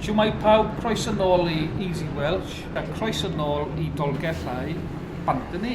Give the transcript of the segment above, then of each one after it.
Shwmae pawb, croeso nôl i Easy Welsh a croeso nôl i Dolgellau Banthyni.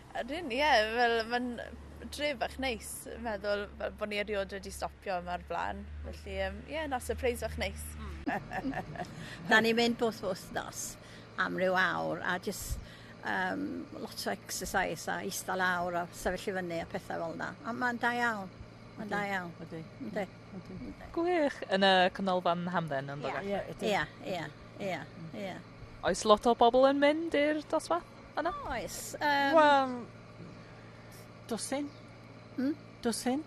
Ydyn ie fel ma'n dre bach neis meddwl fel bo' ni eriod wedi stopio yma o'r bla'n felly yym ie na sypreis fach neis. Hmm. 'Dan ni'n mynd bob wthnos am ryw awr a jys yym lot o exercise a ista lawr a sefyll i fyny a pethe fel 'na a ma'n da iawn. Ma'n da iawn. Ydi. Yndi. Ydi. Yndi. Gwych yn y Canolfan Hamdden yn Ie. Ie. Ie. Ie. Ie. Oes lot o bobol yn mynd i'r dosbarth? Helo. Oes yym. Wel dwsin. Hmm? Dwsin.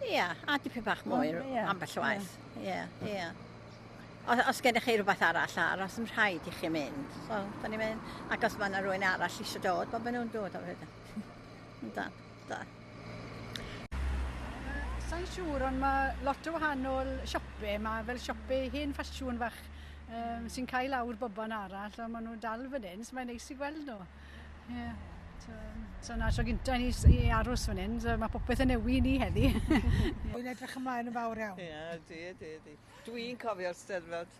Ia, a dipyn bach mwy oh, yeah. ambell waith. Ie, yeah. ie. Yeah, yeah. Os, os gennych chi rhywbeth arall ar, os yn rhaid i chi mynd, so, da ni'n mynd. Ac os mae yna rhywun arall eisiau dod, bod maen nhw'n dod o hyd. Da. Da. Sa i'n siŵr, ond mae lot o wahanol siope. Mae fel siope hen ffasiwn fach um, sy'n cael awr bobon arall, ond maen nhw'n dal fan hyn, so mae'n neis i gweld nhw. Yeah. So, so na tro gyntaf ni i aros fan hyn, so mae popeth yn newid ni heddi. Dwi'n edrych ymlaen yn fawr iawn. Ie, yeah, di, di, di. Dwi'n cofio'r steddfod.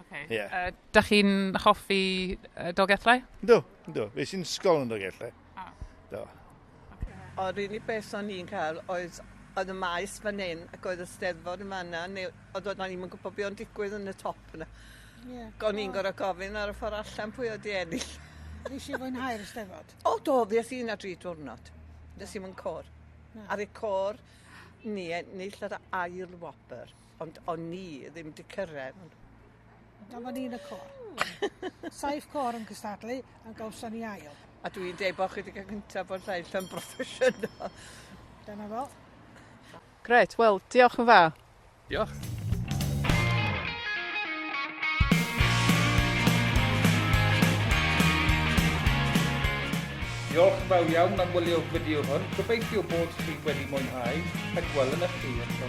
Okay. Yeah. Uh, da chi'n hoffi uh, Dolgellau? Do, do. Fe sy'n sgol yn Dolgellau. Ah. Do. Okay. O'r unig beth o'n i'n cael oedd oedd y maes fan hyn ac oedd y steddfod yn fanna, neu oedd o'n i'n gwybod beth o'n digwydd yn y top yna. Yeah. O'n i'n gorau gofyn ar y ffordd allan pwy oedd i ennill. Nes i fwynhau'r steddfod? O, do, ddes i'n a dri diwrnod. Nes i'n mynd cor. Ar y cor, ni ennill yr ail wobr. Ond o'n ni ddim 'di cyrraedd. Dyma ni yn y côr. Saif côr yn cystadlu a gawson ni ail. A dwi'n deud bod chi wedi cael gyntaf bod lleill yn broffesiynol. Dyna fo. Gret, wel, diolch yn fawr. Diolch. Diolch yn fawr iawn am wylio'r fideo hwn. Gobeithio bod chi wedi mwynhau a gwelwn eich chi yn tro